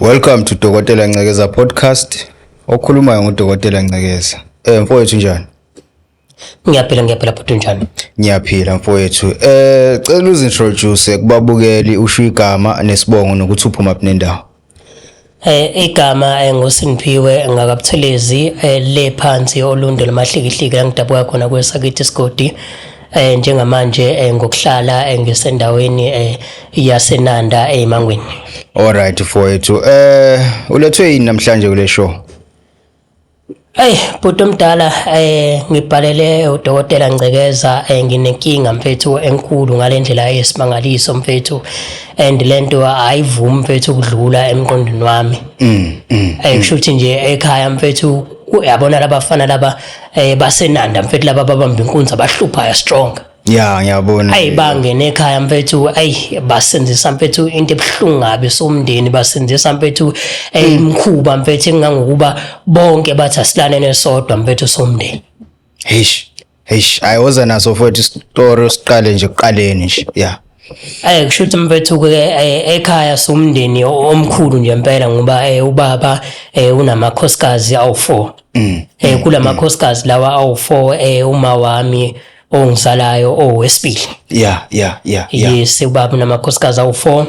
Welcome to Dokotela Ncekeza podcast. Okhulumayo nguDokotela Ncekeza. Eh mfowethu njani? Ngiyaphila ngiyaphila bhuti njani? Ngiyaphila mfowethu. Eh cela uzintroduce kubabukeli usho igama nesibongo nokuthi uphuma kuphi nendawo. Eh igama eh, nguSinphiwe ngakabuthelezi eh, le phansi olunde lomahlikihliki langidabuka khona kwesakithi isigodi eh njengamanje eh, ngokuhlala eh, ngisendaweni eh yaseNanda eMangweni eh, All right mfowethu eh ulethwe yini namhlanje kule show Hey bhuti omdala eh ngibhalele udokotela Ngcekeza eh nginenkinga mfethu enkulu ngalendlela yesimangaliso mfethu and lento ayivumi mfethu ukudlula emqondweni wami mm, mm, eh kusho mm. ukuthi nje ekhaya mfethu uyabona labafana laba eh basenanda mfethu laba babamba inkunzi abahluphayo strong ya ngiyabona ayi bangene ekhaya mfethu ayi basenzisa mfethu into ebuhlungu ngabe somndeni basenzisa mfethu eh, imkhuba hmm. mfethu engangokuba bonke bathi asilane nesodwa mfethu somndeni heish heish ayoza naso mfethu story siqale nje kuqaleni nje ya Eh kusho ukuthi mfethu ke eh, ekhaya somndeni omkhulu nje impela ngoba eh, ubaba eh, unamakhosikazi awu4. Mm. Eh kulamakhosikazi lawa awu4 eh uma wami ongisalayo owesibili. Yeah yeah yeah. Yes ubaba unamakhosikazi awu4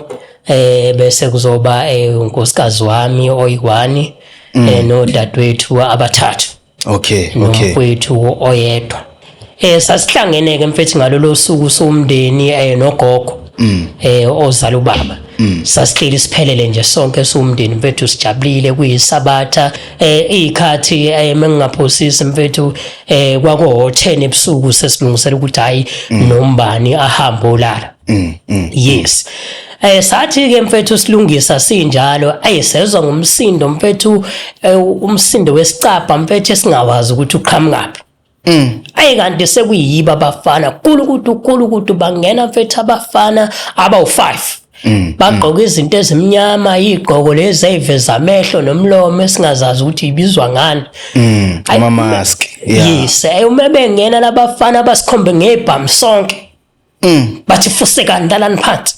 eh bese kuzoba eh unkosikazi wami oyiwani mm. eh nodadewethu abathathu. okay okay nomfowethu oyedwa eh sasihlangene ke mfethu ngalolo suku somndeni eh nogogo mm. eh ozala ubaba mm. sasihleli siphelele nje sonke somndeni mfethu sijabulile kuyisabatha eh ikhathi eh, mengingaphosisi mfethu eh kwako 10 ebusuku sesilungisela ukuthi hayi mm. nombani ahambe olala yes Eh sathi ke mfethu silungisa sinjalo ayisezwa ngomsindo mfethu eh, umsindo wesicapha mfethu esingawazi ukuthi uqhamukaphi. Mm. Ayi kanti sekuyiba abafana kulukudu kulukudu bangena mfethu abafana abawu5. Mm. Bagqoka mm. izinto ezimnyama igqoko lezi eziveza amehlo nomlomo esingazazi ukuthi ibizwa ngani. Mm. Ama mask. Yeah. Yes, ayumebengena labafana abasikhombe ngebhamu sonke. Mm, bathi fusekani lalani phansi.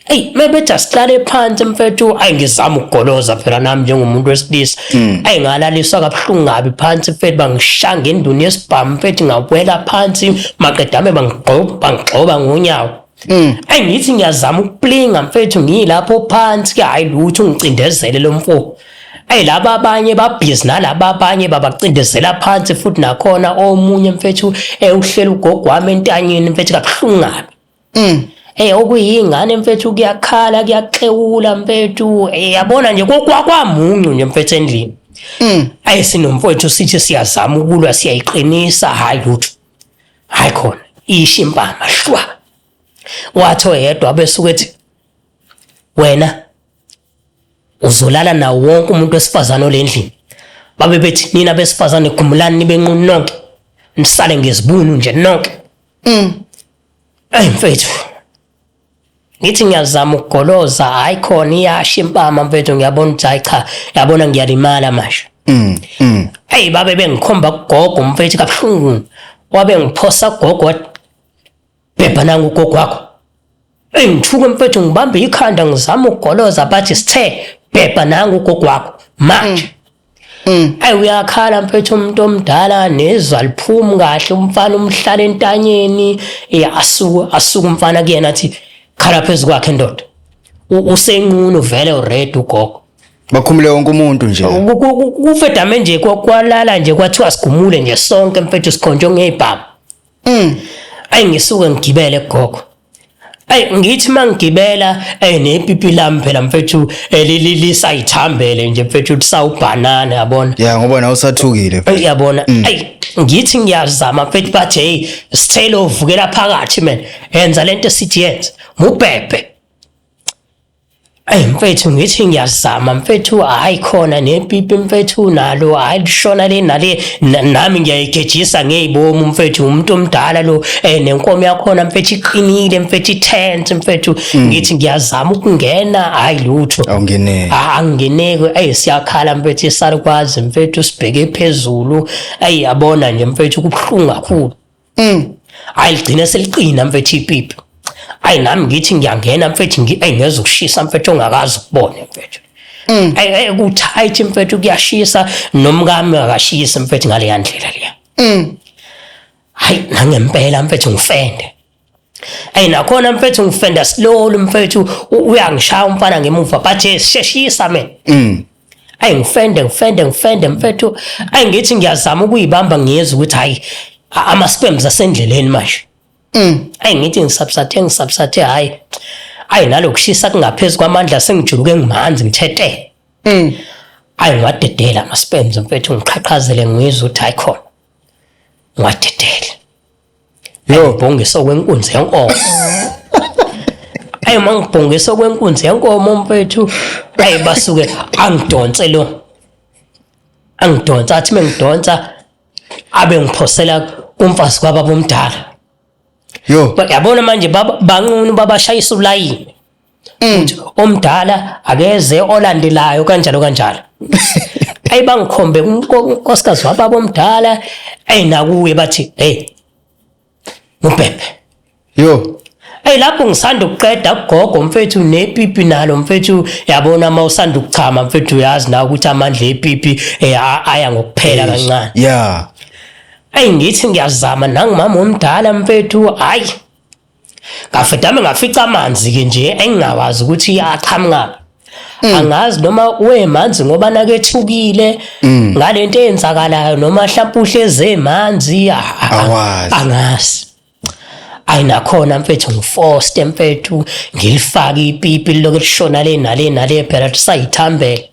Hey, maybe just qale phansi mfethu, ayi ngizama ukugoloza phela nami njengomuntu wesilisa. Mm. Ayi ngalaliswa kabuhlungu kabi phansi mfethu bangishanga enduni yesibhamu mfethu ngawela phansi maqedame bangigqoba bangigxoba ngonyawo. Mm. Ayi ngithi ngiyazama ukuplinga mfethu ngilapho phansi hayi lutho ngicindezele lomfo. Ey laba abanye babhizi nalaba abanye babacindezela phansi futhi nakhona omunye mfethu ewuhlela ugogo wami entanyeni mfethu kabuhlungu kabi. Mm. Eh okuyingane mfethu kuyakhala kuyaxewula mfethu eh, yabona nje kokwamuncu nje mfethu endlini. Mm. Ayi sinomfowethu sithi siyazama ukulwa siyayiqinisa hayi lutho. Hayi khona ishi impama shwa. Wathi oyedwa besuke ethi wena uzolala nawo wonke umuntu wesifazane olendlini babe bethi nina besifazane khumulani nibe nqunu nonke nisale ngezibunu nje nonke mm ayi mfethu ngithi ngiyazama ukugoloza hayi khona iyasha impama mfethu ngiyabona ukuthi hayi cha yabona ngiyalimala manje mm mm hey babe bengikhomba kugogo mfethu kabuhlungu wabe ngiphosa gogo Bhebha nangu ugogo wakho. Eyi ngithuke mfethu ngibambe ikhanda ngizama ukugoloza bathi sithe bhebha nangu ugogo wakho manje. Mm. Mm. Ayi uyakhala mfethu umuntu omdala nezwa liphumi kahle umfana umhlala entanyeni eh, asuku asuku umfana kuyena athi khala phezu kwakhe ndoda usenqunu vele ured ugogo bakhumule wonke umuntu nje kufedame nje kwalala nje kwathiwa sigumule nje sonke mfethu sikhonjwe ngeyibhamu Mm. Ayi ngisuke ngigibele gogo. Ayi ngithi mangigibela eh nepipi lami phela mfethu elililizayithambele nje mfethu lisawubhanana yabona. Yeah ngoba nawe usathukile. Uyabona. Mm. Ayi ngithi ngiyazama mfethu bathi hey sithelo uvukela phakathi man. Yenza lento esithi yenze. Mubhebhe. Eyi mfethu ngithi ngiyazama mfethu hayi khona nepipi mfethu nalo hayi lishona le nale nami ngiyayigejisa ngeyibomu mfethu umuntu omdala lo eh nenkomo yakhona mfethu iqinile mfethu itent mfethu mm. ngithi ngiyazama ukungena hayi lutho awungeneki ah, angingeneki ey siyakhala mfethu isarukwazi mfethu sibheke phezulu ey yabona nje mfethu kubuhlungu kakhulu Mm. Hayi ligcine seliqina mfethu ipipi. Hayi nami ngithi ngiyangena mfethu ngi ayi ngeza ukushisa mfethu ongakazi ukubone mfethu. Mm. Ayi kuthight mfethu kuyashisa nomkami akashisa mfethu ngale yandlela leya. Mm. Hayi nangempela mfethu ngifende. Hey nakhona mfethu ngifenda slowly mfethu uyangishaya umfana ngemuva but sheshisa mina. Mm. ayi ngifende ngifende ngifende mfethu ayi ngithi ngiyazama ukuyibamba ngiyezwa ukuthi hayi ama sperms asendleleni manje mm. ayi ngithi ngisubsathe ngisubsathe hayi ayi nalokushisa kungaphezulu kwamandla sengijuluke ngimanzi ngithethe mm. ayi ngiwadedela ama sperms mfethu ngiqhaqhazele ngizwa ukuthi hayi khona ngiwadedela Yo, bhongisa okwenkunzi yenkomo. Ayi mangibhongisa okwenkunzi yenkomo mfethu. Ayi basuke angidonse lo. Angidonsa athi mengidonsa abe ngiphosela kumfazi kwababa omdala. Yo, Yabona manje baba banqunu babashayisa ulayini. mm. omdala akeze olandelayo kanjalo kanjalo ayi bangikhombe unkosikazi wababa omdala ayi nakuye bathi hey ngubhebhe yo Hey lapho ngisanda ukuqeda ugogo mfethu nepipi nalo mfethu yabona uma usanda ukuchama mfethu uyazi na ukuthi amandla epipi eh, aya ngokuphela kancane. Yeah. Hey ngithi ngiyazama nangimama omdala mfethu hayi ngafedame ngafica amanzi ke nje engingawazi ukuthi aqhamuka mm. angazi noma wemanzi ngoba nakethukile mm. ngalento eyenzakalayo noma mhlawumbe uhleze emanzi angazi ayinakhona mfethu ngifoste mfethu ngilifake ipipi liloke lishona le nale nale phela sayithambele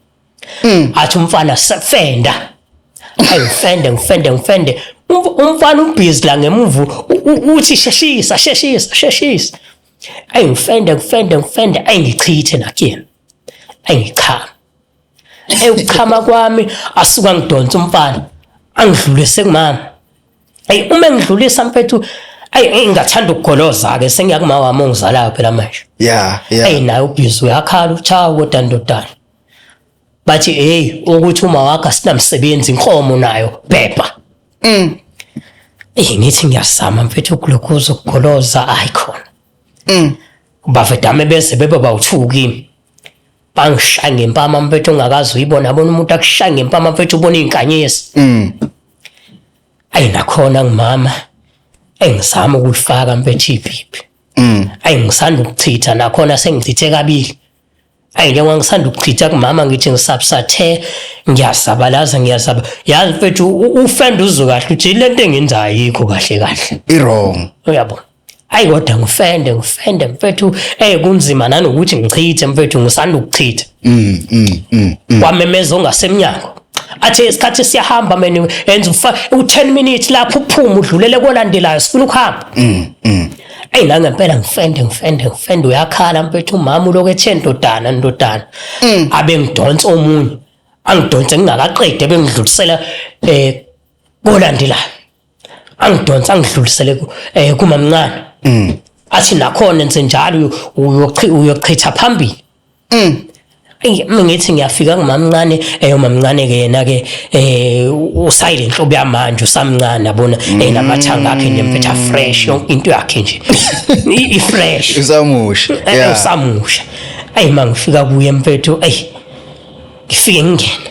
Mm. athi umfana sefenda ayifende ngifende ngifende umfana ubhizi la ngemuva uthi sheshisa sheshisa sheshisa ayi ngifende ngifende ngifende ayi ngichithe nakuyena ayi ngichama eyi ukuchama kwami asuka ngidonsa umfana angidlulise kumama Hey uma engidlulisa mfethu Ayi ngingathanda ukugoloza ke sengiyakumawa wami ongizalayo phela manje. Yeah, yeah. Ayi naye ubhizi uyakhala uchawa kodwa ndodana. Bathi hey ukuthi uma wakha sinamsebenzi inkomo nayo bhebha. Mm. Eh ngithi ngiyasama mfethu ukuglokoza ukugoloza ayikhona. Mm. Bafethu dame bese bebe bawuthuki. bangishaya ngempama mfethu ongakazi uyibona abona umuntu akushaya ngempama mfethu ubona iy'nkanyezi mm. ayi nakhona ngumama engizama ukulifaka mfethu ipipi mm. ayi ngisanda ukuchitha nakhona sengichithe kabili ayi njengoba ngisanda ukuchitha kumama ngithi ngisabsathe ngiyasabalaza ngiyasaba yazi mfethu ufenda uzwe kahle uthi le nto engenzayo yikho kahle kahle i-wrong uyabona Hayi kodwa ngifende ngifende mfethu eh kunzima nanokuthi ngichithe mfethu ngisanda ukuchitha. Mm mm mm. mm. Wamemeza ongasemnyango. Athi isikhathi siyahamba mina enza ufa u10 minutes lapho uphuma udlulele kolandelayo sifuna ukuhamba. Mm mm. Ey la ngempela ngifende ngifende ngifende uyakhala mfethu umama uloku ethe ndodana ndodana. Mm. Abe ngidonsa omunye. Angidonse ngingakaqede bengidlulisela eh kolandelayo. angidonsa ngidlulisele ku- eh, kumamncane Mm. athi nakhona enze njalo uyochi- uyochitha phambili Mm. Eyi, mina ngithi ngiyafika ngumamncane eyo mamncane-ke yena-ke um usayile nhlobo yamanje usamncane abona Mm. um namathanga akhe nje mpetha fresh yonke into yakhe nje I- i-fresh usamusha Eh, Yeah. usamusha ayi ma ngifika kuye mpethu eyi ngifike ngingene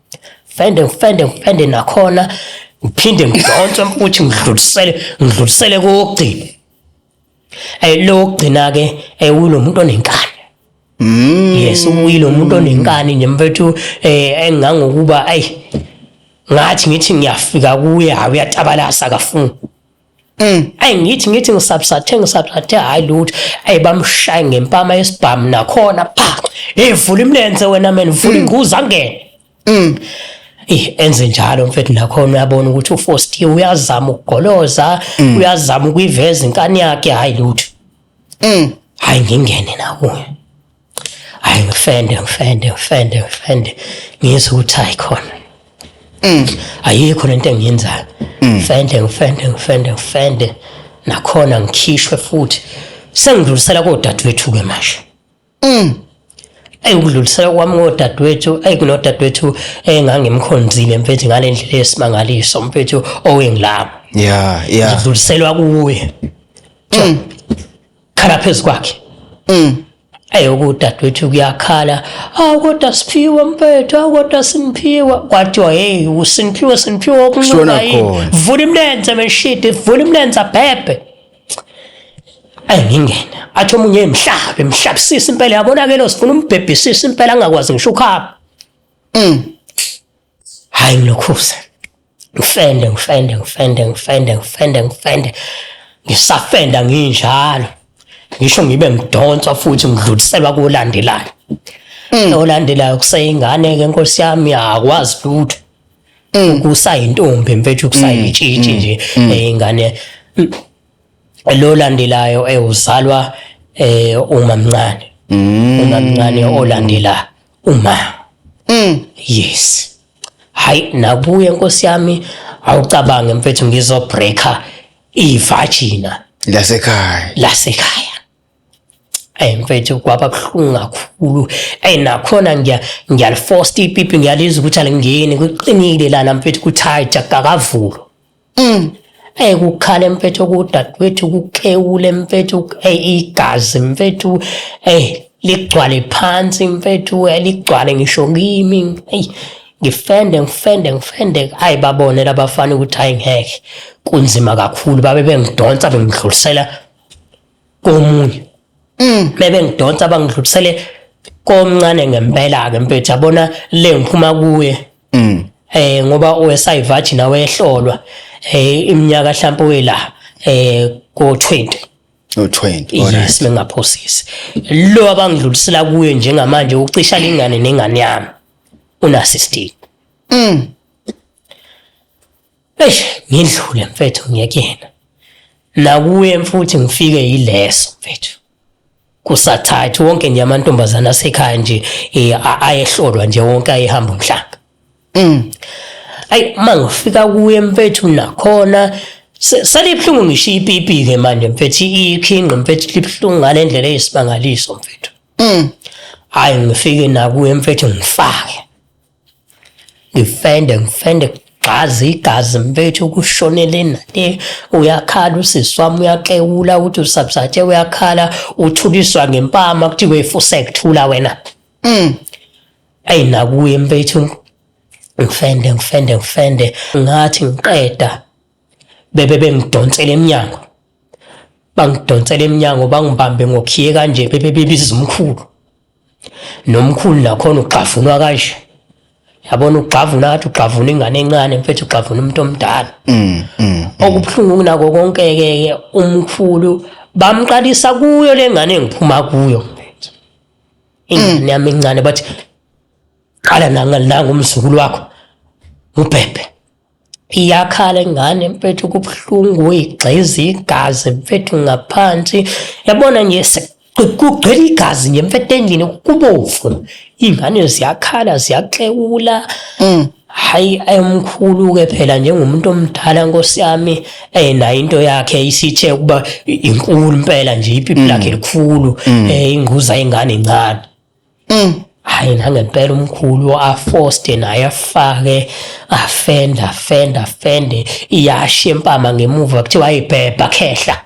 ngifende ngifende ngifende nakhona ngiphinde ngidonse futhi ngidlulisele ngidlulisele kokugcina eh lo kugcina ke eh ulo muntu onenkani Mm. Yes uyilo umuntu onenkani nje mfethu eh engangokuba ayi ngathi ngithi ngiyafika kuye hayi uyatabalasa akafuni. Mm. Ayi ngithi ngithi ngisabsathe ngisabsathe hayi lutho ayi bamshaye ngempama yesibhamu nakhona pha hey vula imlenze wena mina vula mm. inguza angene mm. Eh enze njalo mfethu nakhona uyabona ukuthi uFosti uyazama ukugoloza mm. uyazama ukuyiveza inkani yakhe hayi lutho mm. hayi ngingene nakuye hayi ngifende ngifende ngifende ngifende ngizwe ukuthi hayi khona mm. ayikho lento engiyenzayo mm. ngifende ngifende ngifende ngifende nakhona ngikhishwe futhi sengidlulisela kodadewethu-ke manje mm. eyi ukudlulisela kwami ngodadewethu eyi kunodadewethu engangimkhonzile mfethu ngale ndlela yesimangaliso mfethu owengilabo ya ya ngidluliselwa kuye khala phezu kwakhe mm. eyi ukudadewethu kuyakhala awu kodwa siphiwe mfethu awu kodwa simphiwa kwathiwa heyi usimphiwe simphiwe okuncuka yini vula imlenze meshidi vula imlenze abhebhe ayi ngingena athi omunye emhlabe mhlabisisa impela yabonakele sifuna umbhebhisisa impela angakwazi ngisho ukhaba mm. Hayi ngilokhuze. Ngifende, ngifende, ngifende, ngifende, ngifende, ngifende. Ngisafenda nginjalo. Ngisho ngibe ngidonswa futhi ngidluliselwa kolandelayo. Mm. Olandelayo kuseyingane ke Nkosi yami akwazi lutho. Mm. Kusayintombi mfethu kusayitshitshi mm. nje ingane. Lo landelayo ewuzalwa eh uma mncane. Uma mncane olandelayo. Uma. Mm. Yes. Hayi nakuye nkosi yami awucabange mfethu ngizo breaker ivagina lasekhaya. Lasekhaya. Ey mfethu kwaba buhlungu kakhulu. Ey nakhona ngiya ngiyalifosta ipipi ngiyalizwa ukuthi alingeni kuqinile lana mfethu kuthayi jakakavulo. Mm. Ey kukhale mfethu kudadewethu kukhewule mfethu ey igazi mfethu ey ligcwale phansi mfethu ey ligcwale ngisho kimi ey ngifende ngifende ngifende ayi babone labafana ukuthi hayi ngeke kunzima kakhulu babe bengidonsa bengidlulisela komunye mm. bebe ngidonsa bangidlulisele komncane ngempela ke mfethu yabona le ngiphuma kuye mm. eh ngoba owesayivaji nawe ehlolwa eh iminyaka mhlawumbe wela eh ko 20 no20 yes bengaphosisi lo abangidlulisela kuye njengamanje ucisha lengane nengane yami unasistini mm Eish ngidlule mfethu ngiyekena. Nakuye mfuthi ngifike yileso mfethu. Kusathathu wonke nje amantombazana asekhaya nje eh, a- ayehlolwa nje wonke ayehamba umhlanga. Mm. Ayi uma ngifika kuye mfethu nakhona se- salibuhlungu ngisho ipipi-ke manje mfethu ikhinqi mfethu libuhlungu ngale ndlela eyisimangaliso mfethu. Mm. Hhayi ngifike nakuye mfethu ngifake. ngifende ngifende gxazi igazi mfethu kushonele nale uyakhala usisi wami uyaxewula ukuthi usabsathe uyakhala uthuliswa ngempama kuthiwe fuse kuthula wena mm. ayi nakuye mfethu ngifende ngifende ngifende ngathi ngiqeda bebe bengidonsela emnyango bangidonsela emnyango bangibambe ngokhiye kanje bebe bebiza umkhulu nomkhulu nakhona ugxavunwa kanje yabona ugxavuna ngathi ugxavuna ingane encane mfethu ugxavuna umuntu omdala mm, mm, mm. okubuhlungu kunako konke-ke ke umkhulu bamqalisa kuyo le ngane engiphuma kuyo mfethu ingane yami encane bathi qala nangumzukulu wakho ubhebhe iyakhala ingane mfethu kubuhlungu uyigxiza igazi mfethu ngaphansi yabona nje kugcwele igazi nje mfethu endlini kubovu iy'ngane ziyakhala ziyaxewula mm. hayi ayomkhulu-ke phela njengomuntu omdala nkosi yami um nayo into yakhe isithe ukuba inkulu impela nje ipipi mm. lakhe likhulu um ingquza ingane incane Mm. Hayi nangempela umkhulu afoste naye afake afenda afenda afende iyashe impama ngemuva kuthiwa ayibhebha khehla.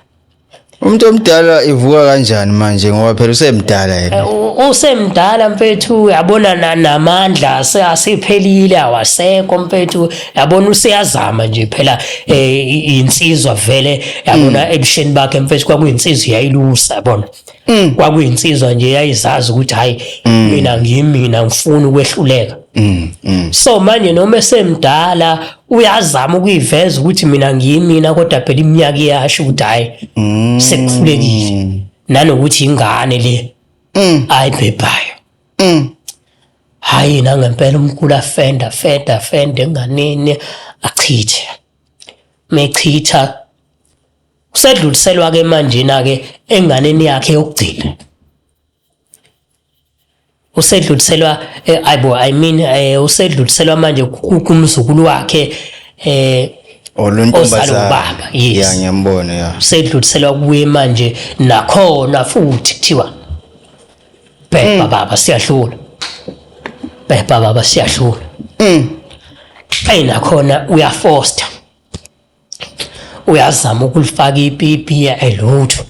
Umuntu omdala ivuka kanjani manje ngoba phela usemdala yena. Eh, u- Usemdala mfethu yabona na- namandla ase- asephelile awasekho mfethu yabona useyazama nje phela eh, i- insizwa vele yabona ebusheni bakhe mfethu kwakuyinsizwa yayilusa yabona. mm. kwakuyinsizwa nje yayizazi ukuthi hayi mm. mina ngimi mina ngifuni ukwehluleka mm, mm. so manje noma esemdala uyazama ukuyiveza ukuthi mina ngiyimina kodwa phela iminyaka iyasho ukuthi hayi mm. sekuhlulekile nanokuthi ingane le mm. ayibhebhayo mm. hayi nangempela umkhulu afenda afenda afenda enganeni achithe mechitha usedluliselwa-ke manjena-ke enganeni yakhe yokugcina usedluliselwa eh, ayibo i mean eh, usedluliselwa manje kumzukulu wakhe eh oluntombazana yes yeah, ngiyambona yeah usedluliselwa kuye manje nakhona futhi kuthiwa bhebha mm. baba siyahlula bhebha baba siyahlula mm. ayinakhona uyafoster uyazama ukulifaka ipipi elutho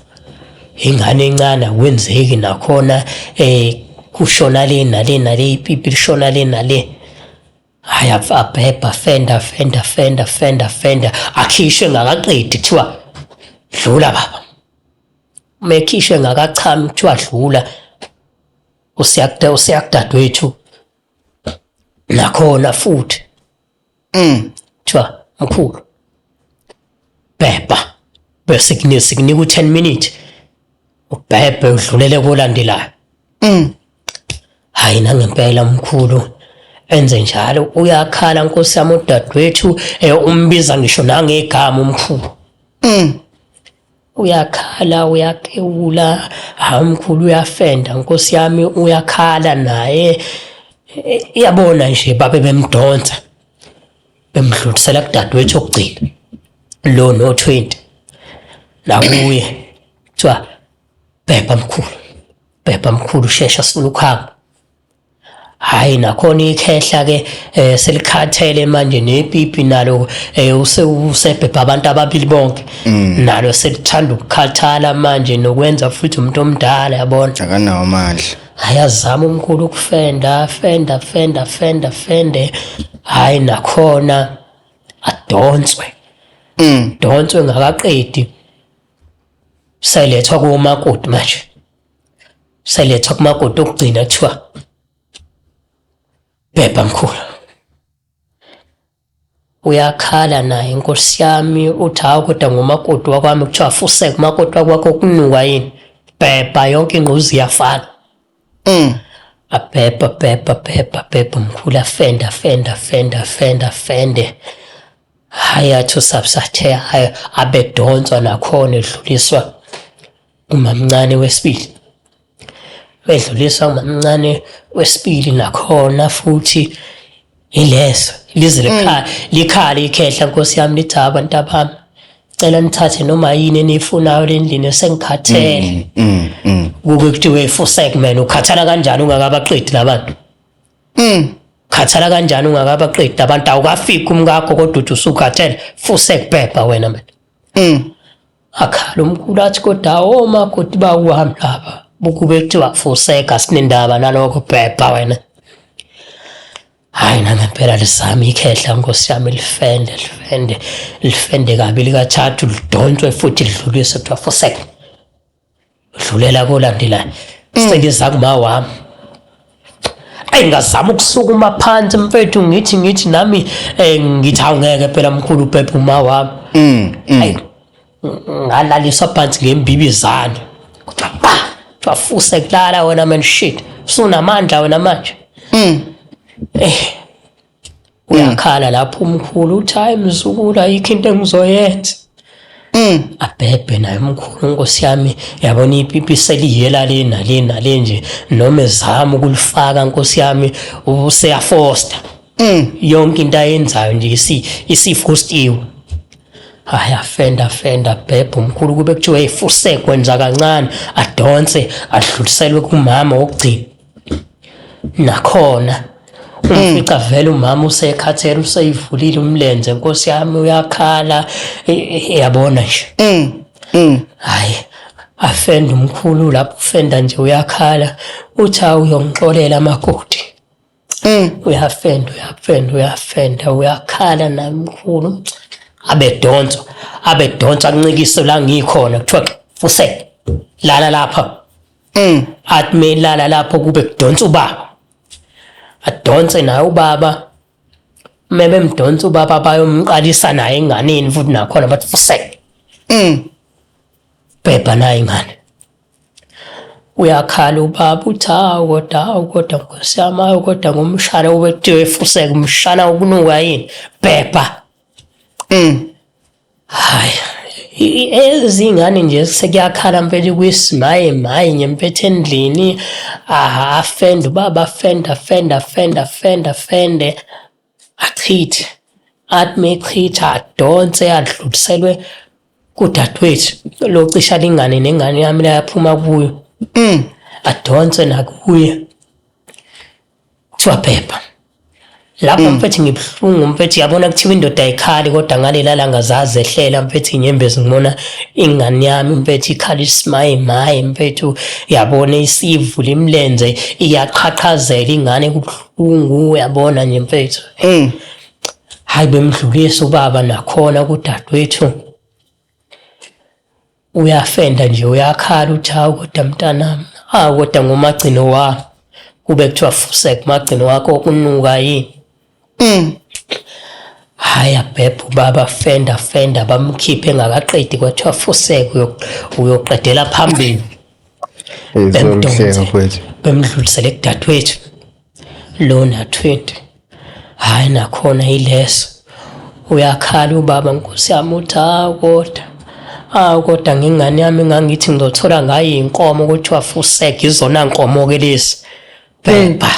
ingane encane akwenzeki nakhona eh kushona le nale nale ipipi lishona le nale hayi abhebha fenda fenda fenda fenda fenda akhishwe ngakaqedi kuthiwa dlula baba uma ekhishwe ngakachami kuthiwa dlula usiyakudadewethu nakhona futhi Mm. Kuthiwa mkhulu. Bhebha. Bese kunika sikunika u10 minutes. Ubhebhe udlulele kolandelayo. Mm. Hayi nangempela mkhulu. Enze njalo uyakhala nkosi yami udadewethu eh, umbiza ngisho nangegama umkhulu. Mm. uyakhala uyakewula hawu mkhulu uyafenda nkosi yami uyakhala naye iyabona nje babe bemdonsa bemdlulisela kudadewethu okugcina lo no 20 nakuye kuthiwa bhebha mkhulu bhebha mkhulu shesha sifuna ukuhamba Hayi nakhona ikhehla ke eh, selikhathele manje nepipi nalo eh, usebhebha abantu ababili bonke mm. nalo selithanda ukukhathala manje nokwenza futhi umuntu omdala yabona akanawo amandla ayazama umkhulu ukufenda fenda fenda fenda fende hayi nakhona adonswe mm. donswe ngakaqedi selethwa kumakoti manje selethwa kumakoti okugcina kuthiwa bhebha mkhulu uyakhala naye nkosi yami uthi hawu kodwa ngumakoti wakwami kuthiwa afuseke umakoti wakwakho kunuka yini bhebha yonke ingquzi iyafana mm. abhebha bhebha bhebha bhebha mkhulu afende afende afende afende afende hhayi athi usabsathe hhayi abedonswa nakhona edluliswa Umamncane wesibili wedlulisa umamncane wesibili nakhona futhi yileso lize likhaya likhale ikhehla nkosi yami lithi "Hha, bantu abami cela nithathe noma yini eniyifunayo lendlini sengikhathele Mm, mm. kuke kuthiwe full segment ukhathala kanjani ungakabaqedi labantu Mm. khathala kanjani ungakabaqedi abantu awukafiki umkakho kodwa uthi usukhathele full segbhebha wena manje Mm. akhala umkhulu athi kodwa omakoti bakuhamba lapha bukube kuthiwa fuseka sinendaba nalokho bhebha wena hayi nangempela lisami ikhehla nkosi yami lifende lifende lifende kabi likathathu lidonswe futhi lidluliswe kuthiwa fuseka dlulela kolandelayo mm. sengiza kuma wami ayi ngazama ukusukuma phansi mfethu ngithi ngithi nami eh, ngithi awungeke phela mkhulu ubhebhe uma wami mm, mm. ayi ngalaliswa phansi ngembibizane kuthiwa ba twafuse kulala wena man shit usunamandla wena manje eh uyakhala lapho umkhulu uthi hayi mzukulu ayikho into engizoyenza Mm. abhebhe naye umkhulu nkosi yami yabona ipipi seliyela le nale nale nje noma ezama ukulifaka nkosi yami useyafosta mm. yonke into ayenzayo nje isifostiwe hayi afenda fenda bhebha umkhulu kube kuthiwa efuse kwenza kancane adonse adluliselwe kumama wokugcina nakhona ufica vele umama usekhathele useyivulile umlenze nkosi yami uyakhala e- e- yabona nje Mm. Mm. hayi afenda umkhulu lapho ufenda nje uyakhala uthi hawu uyongixolela amakoti Mm. uyafenda uyafenda uyafenda uyakhala naye mkhulu abedonsa abedonsa ancikise la ngikhona kuthiwa fusele lala lapha mm. athi melala lapho kube kudonsa ubaba adonse naye ubaba uma bemdonsa ubaba bayomqalisa naye enganeni futhi nakhona bathi fuseke mm. bhebha naye ingane uyakhala ubaba uthi hawu kodwa hawu kodwa nkosi yami hawu kodwa ngomshana ubethiwe fuseke umshana ukunuka yini bhebha mm. Hayi, ezingane nje sekuyakhala mfethu kwisimaye maye nje mfethu endlini aha afende ubaba afende afende afende afende afende achithe athi mechitha adonse adluliselwe kudadewethu locisha lingane nengane yami layaphuma kuyo mm. adonse nakuye Kuthiwa phepha. Lapho mm. mfethu ngibuhlungu mfethu yabona kuthiwa indoda ayikhali kodwa ngalela langa zazehlela mfethu inyembezi ngibona ingane yami mfethu ikhala isimaye maye mfethu yabona isivula imlenze iyaqhaqhazela ingane kubuhlungu uyabona nje mfethu. Mm. Hayi bemdlulisa ubaba nakhona kudadewethu. uyafenda nje uyakhala uthi hawu kodwa mntanami hawu kodwa ngumagcino wakho kube kuthiwa fusek magcino wakho okunuka yini mm. hhayi abhebha ubaba fenda fenda bamkhiphe engakaqedi kwathiwa fusek uyoqedela phambili bemdonse bemdlulisele kudadewethu Lona 20 hayi nakhona yileso uyakhala ubaba nkosi yami uthi hawu kodwa awu kodwa ngengane yami ngangithi ngizothola ngayo inkomo kuthiwa fusek izona nkomo-ke lezi bhebha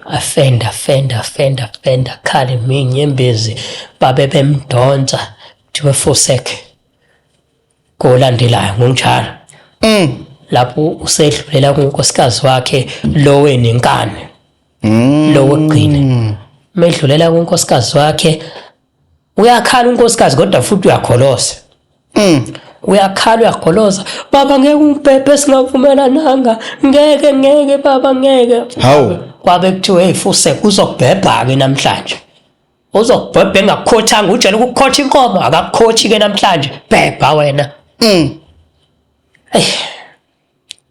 afenda fenda fenda fenda khale minyembezi babe bemdonsa kuthiwe fusek kolandelayo ngunjalo mm. lapho usedlulela kunkosikazi wakhe lowe nenkani mm. lowo gcina medlulela kunkosikazi wakhe uyakhala unkosikazi kodwa futhi uyakholosa mm. uyakhala uyakholosa baba ngeke umbhebhe singavumelananga ngeke ngeke baba ngeke hawu kwabe kuthiwe hey fuse kuzobhebha-ke namhlanje uzokubhebha engakukhothanga ujele ukukhotha inkomo akakukhothi ke namhlanje bhebha wena mm hey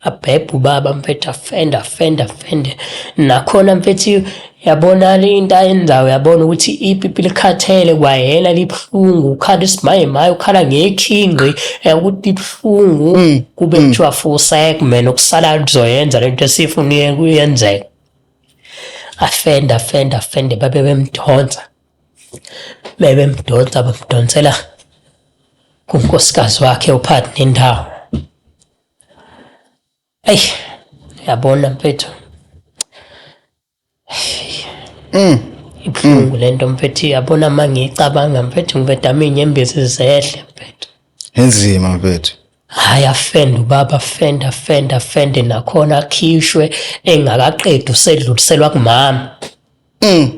abhebha ubaba mfethu afende afende afende nakhona mfethu yabona le into ayenzayo uyabona ukuthi ipipi likhathele kwayena libuhlungu ukhala isimaye maye ukhala ngekhinqi eh, ukuthi libuhlungu mm, kube mm. kuthiwa fusek mina okusalayo kuzoyenza le nto esifuna kuyenzeka afenda afenda afende babe bemdonsa bebemdonsa bamdonsela kunkosikazi wakhe uphathi nendawo eyi yabona mfethu mm. ibuhlungu le nto mfethu yabona uma ngiyicabanga mfethu ngibedama iy'nyembezi zehle mfethu inzima mfethu Hhayi afende ubaba afende afende afende nakhona akhishwe engakaqedi usedluliselwa kumama. Mm.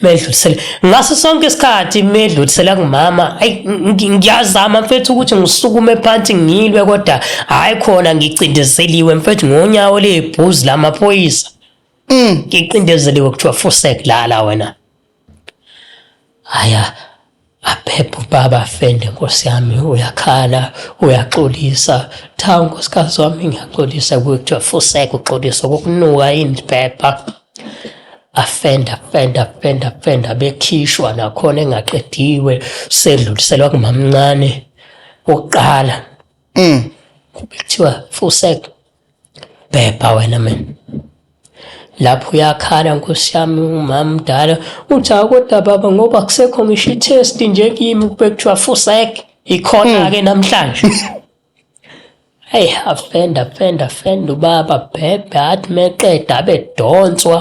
Medlulisele ngaso sonke isikhathi medlulisela kumama ayi ngiyazama mfethu ukuthi ngisukume phansi ngilwe kodwa hayi khona ngicindezeliwe mfethu ngonyawo lebhuzi lamaphoyisa. Mm. Ngiqindezeliwe kuthiwa fusek lala wena. Hhayi aphephe ubaba afende nkosi yami uyakhala, uyaxolisa. Cha nkosikazi wami ngiyaxolisa kuwe kuthiwa fuseg uxolisa kokunuka yini lphepha. Afende afende afende afende abekhishwa nakhona engaqediwe sedluliselwa kumamncane wokuqala. Kube kuthiwa fuseg Bhebha wena mina. Lapho uyakhala nkosi yami umama mdala uthi akodwa baba ngoba kusekho ngisho i-test nje kimi kube kuthiwa fusek ikhona-ke hmm. namhlanje. Eyi afenda afenda afenda ubaba bhebhe athi meqeda abedonswa.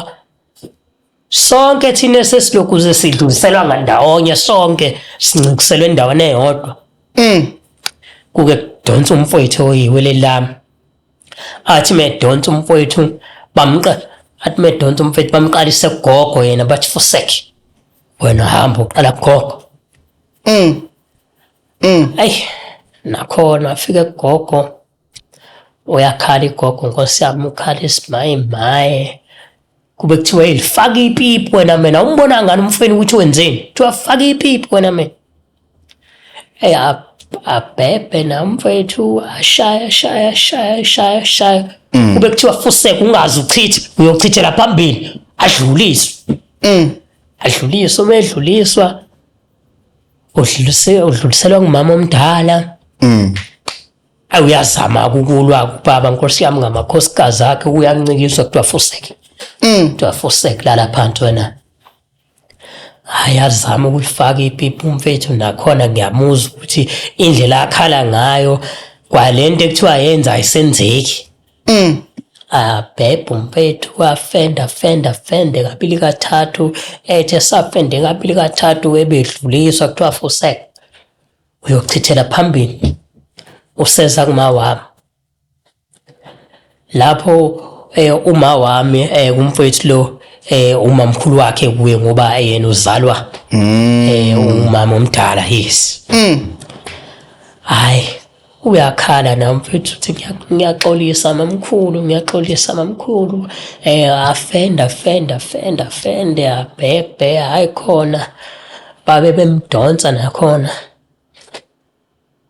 Sonke thina esesilokhu sesidluliselwa ngandawonye sonke sincikuselwe endaweni eyodwa. Mm. Kuke kudonsa umfowethu oyiwe lelami. Athi medonsa umfowethu bamqa athi medonsa umfowethu bamqalise kugogo yena bathi fusek. Wena hamba uqala kugogo. Mm. Mm. Ay nakhona afike kugogo. Uyakhala igogo nkosi yami ukhala isimaye maye. Kube kuthiwa hey faka ipipi wena mina umbona ngani umfweni ukuthi wenzeni? Kuthiwa faka ipipi wena mina. Hey abhebhe na mfwethu ashaye ashaye ashaye ashaye ashaye. Mm. Kube kuthiwa fuseka ungazi uchithe uyochithela phambili adluliswe. Mm. Adluliswe uma edluliswa udluliselwa ngumama omdala. Mm. ayi uyazama ukulwa kubaba nkosi yami ngamakhosikazi akhe uyancikiswa kuthiwa fuseke mm. kuthiwa fuseke lala phansi wena hayi azama ukulifaka ipipi umfethu nakhona ngiyamuzwa ukuthi indlela akhala ngayo kwalento ekuthiwa yenza ayisenzeki mm. abhebhe umfethu wafenda fenda fende kabili kathathu ethe safende kabili kathathu ebedluliswa kuthiwa fuseke uyochithela phambili useza kuma wami lapho eh uma wami eh kumfowethu lo eh umamkhulu wakhe kuye ngoba yena uzalwa mm. eh umama omdala yes mm. hayi uyakhala na mfethu uthi ngiyaxolisa mamkhulu ngiyaxolisa mamkhulu eh afenda fenda fenda fenda bhebhe hayi khona babe bemdonsa nakhona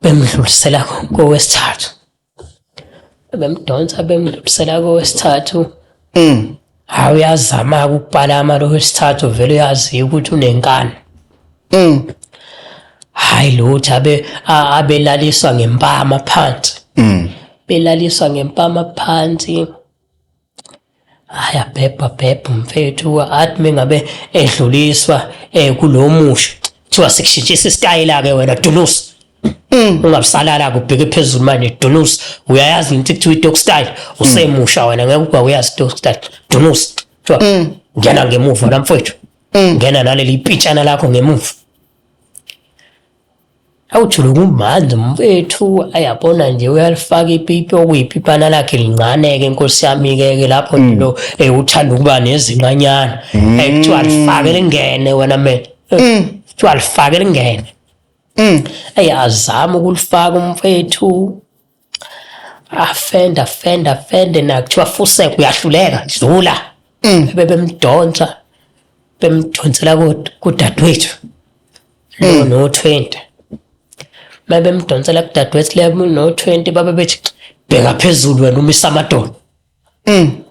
bemdlulisela kowesithathu bemdonsa bemdlulisela kowesithathu mm hawu uyazama ukupalama lo wesithathu vele uyazi ukuthi unenkani mm hayi lutho abe abelaliswa ngempama phansi mm belaliswa ngempama phansi Hhayi abhebha bhebha mfethu athi mengabe edluliswa eh kulo musho kuthiwa sikushintshisa isitayela-ke wena dunusa Mm. ungabusalala kubheke phezulu manje dunus uyayazi into kuthiwa i-dog style usemusha wena ngeke ukuba uyazi i-dog style dunus kuthiwa Mm. ngena ngemuva namfowethu ngena naleli pitshana lakho ngemuva Awujule kumandla mfethu ayabona nje uyalifaka ipipi okuyiphipana lakhe lincane-ke nkosi yami-ke-ke lapho mm. lo eh, uthanda ukuba nezinqanyana mm. eh, kuthiwa lifake lingene wena mina eh, mm. kuthiwa lifake lingene eyi azame ukulifaka umfethu afenda fenda fende na kuthiwa fuseka uyahluleka dlula mm. bebe bemdonsa bemdonsela kudadewethu lo mm. no 20 uma bemdonsela kudadewethu le no 20 babe bethi bheka phezulu wena umisa amadoda mm.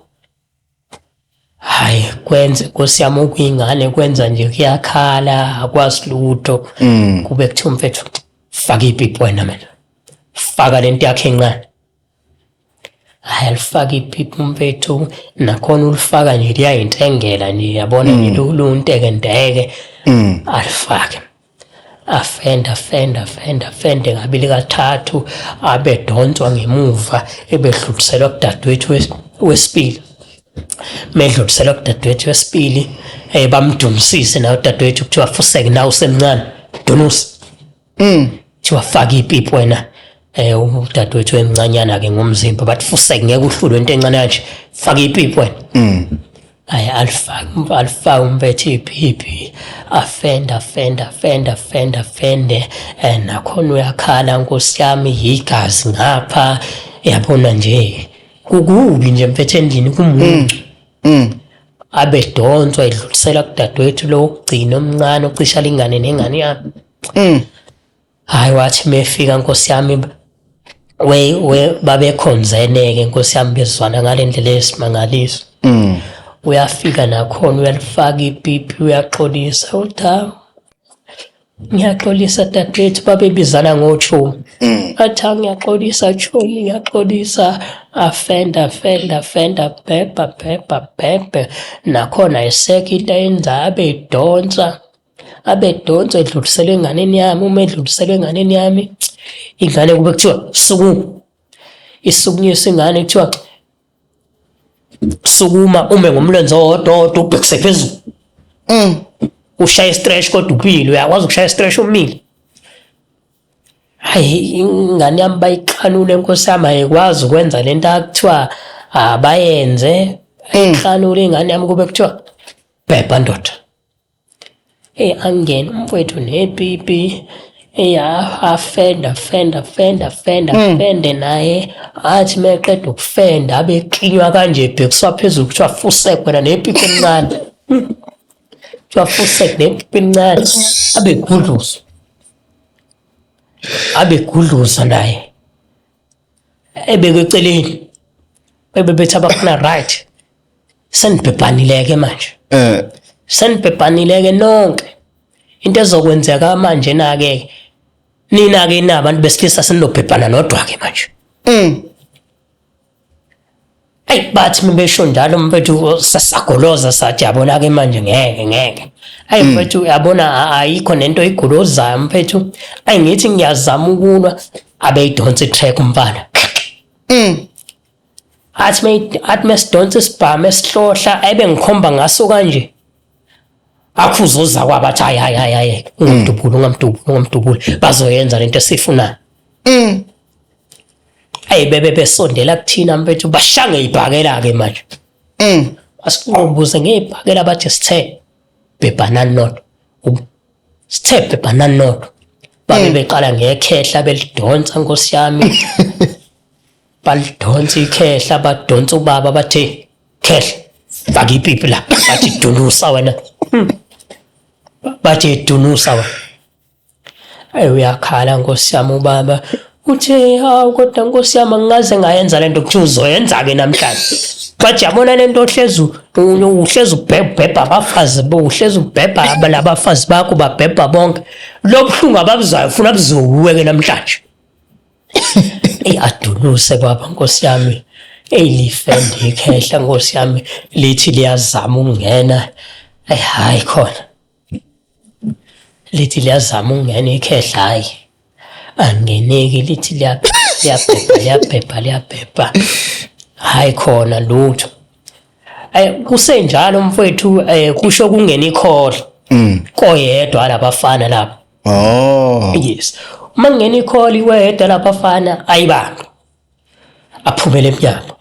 Hayi kwenze Nkosi yami okuyingane kwenza nje kuyakhala akwazi lutho. Mm. Kube kuthiwa mfethu faka ipipi wena mina. Faka lento yakhe encane. Hayi alifaka ipipi mfethu nakhona ulifaka nje liyayintengela nje yabona nje mm. lunteke ndeke. Mm. Alifake. afenda fenda fenda fende ngabili kathathu abedonswa ngemuva ebedluliselwa kudadewethu wesibili medluliselwa kudadewethu wesibili eh bamdumisise nawo dadewethu kuthiwa fuseke nawo semncane dunusi mm kuthiwa faka ipipi wena eh udadewethu emncanyana ke ngomzimba bathi fuseke ngeke uhlulwe into encane kanje faka ipipi wena mm ayi alifake alifake umpethe iphiphi afenda afenda afenda afenda afende um nakhona uyakhala nkosi yami yigazi ngapha yabona nje kukubi nje mpethe endlini kumuntu mm. mm. abedonswa edlulisela kudadewethu lo wokugcina omncane ocisha lingane nengane yami mm. hayi wathi mefika nkosi yami we we babekhonzeneke nkosi yami bezwana ngale ndlela esimangaliso mm. uyafika nakhona uyalifaka ipipi uyaxolisa uthi ngiyaxolisa dadewethu babebizana ngotshomi mm. athi ngiyaxolisa tshomi ngiyaxolisa afenda afenda afenda bhebha bhebha bhebhe nakhona eseka into ayenzayo abe idonsa abedonso edluliselwe enganeni yami uma edluliselwe enganeni yami ingane kube kuthiwa suku isukunyiswa ingane kuthiwa sukuma ume ngomlenze owodwa owodwa ubhekise phezulu mm. ushaya istretch kodwa upile uyakwazi ukushaya istretch umile hayi ingane yami bayixhanule nkosi yami ayikwazi ukwenza le nto akuthiwa abayenze mm. ayixhanule ingane yami kube kuthiwa bhebha ndoda Eyi angene umfwethu nepipi eyafenda fenda fenda fenda mm. fende naye athi meqeda ukufenda abe klinywa kanje ebhekiswa phezulu kuthiwa fusek wena nepipi encane kuthiwa fusek nepipi encane abegudluza abegudluza naye ebeke eceleni bebebethi abafana right senibhebhanileke manje eh senibhebhanileke nonke into ezokwenzeka manje nake nina ke nabantu besilisa sinilobhebhana nodwa ke manje mm Eyi bathi uma besho njalo mfethu sasagoloza sathi yabona-ke manje ngeke ngeke. Ayi hmm. mfethu yabona ayikho nento igolozayo mfethu. Ayi ngithi ngiyazama ukulwa abeyidonsa i-track umfana. Mm. Athi me athi mesidonsa isibhamu esihlohla ebe ngikhomba ngaso kanje. Akhuzoza kwabathi hayi hayi hayi hayi hmm. ungamdubula ungamdubula ungamdubula bazoyenza lento esifunayo. Mm. ayi bebe besondela kuthina mfethu bashange ibhakela ke manje mm asiqombuze ngebhakela bathi sithe bebhana not sithe bebhana not babe mm. beqala ngekhehla belidonsa nkosi yami balidonsa ikhehla badonsa ubaba bathe khehla faka ipipi la bathi dunusa wena hmm. bathi dunusa wena Ayi uyakhala nkosi yami ubaba uthe hawu kodwa nkosi yami angikaze ngayenza lento kuthiwa uzoyenza-ke namhlanje but yabona lento ohlezi uhlezi ubhebha abafazi uhlezi ubhebha labafazi bakho babhebha bonke lobuhlungu ababuzwayo funa buzowuwe-ke namhlanje eyi adunuse baba nkosi yami eyi lifende ikhehla nkosi yami lithi liyazama ukungena eyi hhayi khona lithi liyazama ukungena ikhehla hayi angeneki lithi liyabhebha liyabhebha liyabhebha hayi khona lutho eh kusenjalo mfowethu eh kusho kungena ikhohla mm. koyedwa labafana lapho oh yes uma ngena ikhohla iwedwa labafana ayibanga aphumele emnyango